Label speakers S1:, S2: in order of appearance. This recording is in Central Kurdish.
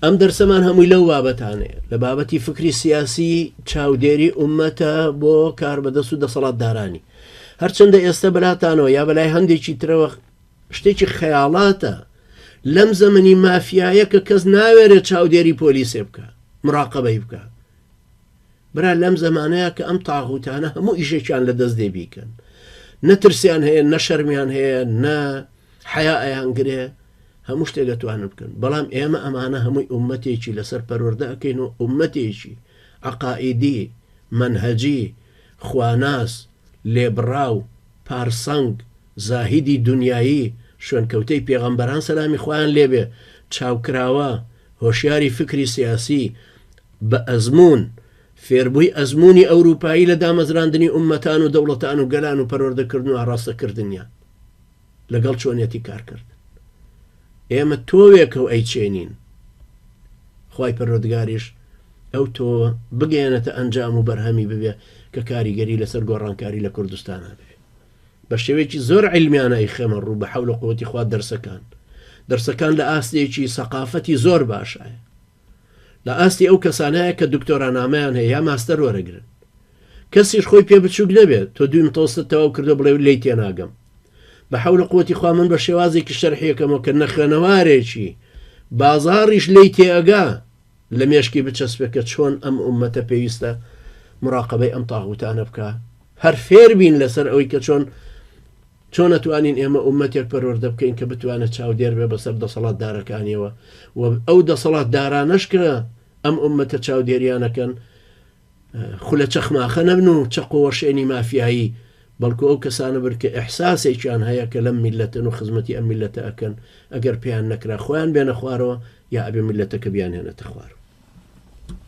S1: ئەم دەرسەمان هەمووی لەو بابەتانەیە لە بابەتی فکری سیاسی چاودێری ئومەتە بۆ کار بەدەست و دەسەڵاتدارانی هەرچەندە ئێستا بەلاتانەوە یا بەلای هەندێکی ترەوە شتێکی خەیاڵاتە لەم زەمەنی مافیایە کە کەس ناوێرێت چاودێری پۆلیسێ بکە مراقبەی بکە برا لەم زەمانەیە کە ئەم تاغوتانە هەموو ئیشێکیان لە دەست دێ بیکەن نەترسیان هەیە نە شەرمیان هەیە نە حیا ئەیان گرێ هەموو شتێک دەتوانن بکەن بەڵام ئێمە ئەمانە هەمووی عومەتێکی لەسەر پەروەەردە ئەکەین و عومەتێکی عقائیدی منهجی خواناس لێبڕاو پارسەنگ زاهیدی دنیایی شوێنکەوتەی پێغەمبەران سەلامی خوایان لێبێ چاوکراوە هۆشیاری فکری سیاسی بە ئەزموون، فێربووی ئەزموونی ئەورووپایی لە دامەزراندنی ئوممەتان و دەوڵەتان و گەلان و پەروەردەکردن و ئاڕاستەکردنیان. لەگەڵ چۆنیەتی کارکردن. ئێمە تۆوێکە و ئەیچێنین. خوای پەروەردگاریش ئەو تۆوە بگەیەنێتە ئەنجام و بەرهەمی ببێ کە کاریگەری لەسەر گۆڕانکاری لە کوردستانا بێ. بە شێوەیەکی زۆر عیلمیانە ئەیخەمە ڕوو بە حەول و قووەتی خوا دەرسەکان. دەرسەکان لە ئاستێکی سەقافەتی زۆر باشایە. لە ئاستی ئەو کەسانایە کە دکتۆرا نامەیان هەیە یا ماستەر وەرەگرن کەسیش خۆی پێ بچوک نەبێت تۆ دویم تۆستت تەواو کردو بڵێ لێی تێناگەم بە حەولە قوەتی خوا من بە شێوازێکی شەرحیەکەمەوە کە نەخوێنەوارێکی بازاڕیش لێی تێئەگا لە مێشکی بچەسپێ کە چۆن ئەم ئومەتە پێویستە مراقبەی ئەم تاغوتانە بکا هەر فێربین لەسەر ئەوەی کە چۆن چۆن ئەتوانین ئێمە ئوممەتێک پەروەردە بکەین کە بتوانێت چاودێر بێت بەسەر دەسەڵاتدارەکانیەوە و ئەو دەسەڵاتدارانەش کە ئەم ئوممەتە چاودێریان ئەکەن خولە چەخماخە نەبن و چەق و وەشێنی مافیایی بەڵکو ئەو کەسانە بن کە ئیحساسێکیان هەیە کە لەم میللەتن و خزمەتی ئەم میللەتە ئەکەن ئەگەر پێیان نەکرا خۆیان بێنە خوارەوە یا ئەبێ میللەتەکە بیانهێنێتە خوار.